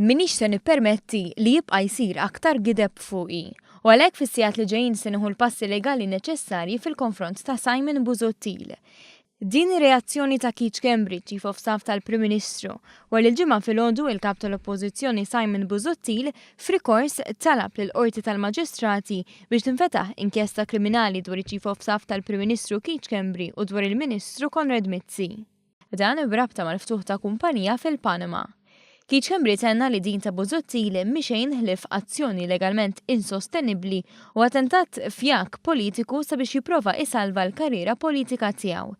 Minix se nippermetti li jibqa' jsir aktar gideb fuqi u għalhekk fis-sigħat li ġejjin se nieħu l-passi legali neċessarji fil-konfront ta' Simon Busuttil. Din ir-reazzjoni ta' Keith Schembri, Chief of Staff tal-Prim Ministru, wara li l-Ġimgħa filgħodu il-Kap tal-Oppożizzjoni Simon Busuttil F'rikors, talab lill-Qorti tal-Maġistrati biex tinfetaħ inkjesta kriminali dwar iċ-Chief of Staff tal-Prim Ministru Keith Schembri u dwar il-Ministru Konrad Mizzi. Dan b'rabta mal-ftuħ ta' kumpanija fil-Panama. Keith Schembri tenna li din ta' Busuttil mhi xejn ħlief azzjoni legalment insostenibbli u attentat fjaak politiku sabiex jipprova isalva l-karriera politika tiegħu.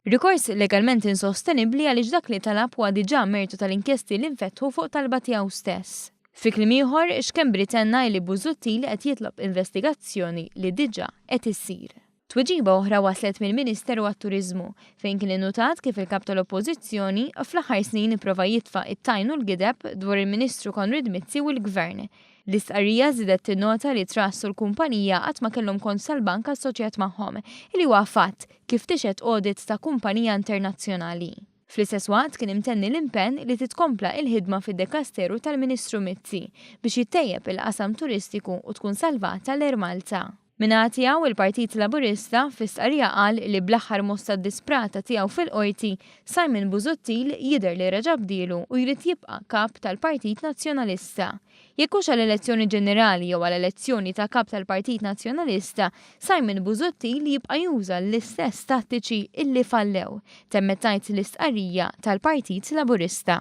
Rikors legalment insostenibbli għaliex dak li talab huwa diġà mertu tal-inkjesti li nfetħu fuq talba tiegħu stess. Fi kliem ieħor, Schembri tenna li Busuttil qed jitlob investigazzjoni li diġà qed issir. Tweġiba oħra waslet mill-Ministeru għat-Turiżmu, fejn kien innutat kif il-Kap tal-Oppożizzjoni fl-aħħar snin ipprova jitfa' t-tajn u l-gideb dwar il-Ministru Konrad Mizzi u l-Gvern, L-istqarrija żiedet tinnota li t-Trust u l-kumpanija qatt ma kellhom kont sal-bank assoċjat magħhom, li huwa fatt, kif tixhed audit ta' kumpanija internazzjonali. Fl-istess waqt kien imtenni l-impenn li titkompla il-ħidma fid-Dekasteru tal-Ministru Mizzi biex jittejjeb il-qasam turistiku u tkun salvata l-Air Malta. Min-naħa tiegħu, il-Partit Laburista fi stqarrija qal li bl-aħħar mossa disprata tiegħu fil-Qorti, Simon Busuttil jidher li reġa' bdielu u jrid jibqa' Kap tal-Partit Nazzjonalista. Jekk hux għal elezzjoni ġenerali jew għal elezzjoni ta' Kap tal-Partit Nazzjonalista, Simon Busuttil jibqa' juża l-istess tattiċi illi fallew, temmet tgħid l-istqarrija tal-Partit Laburista.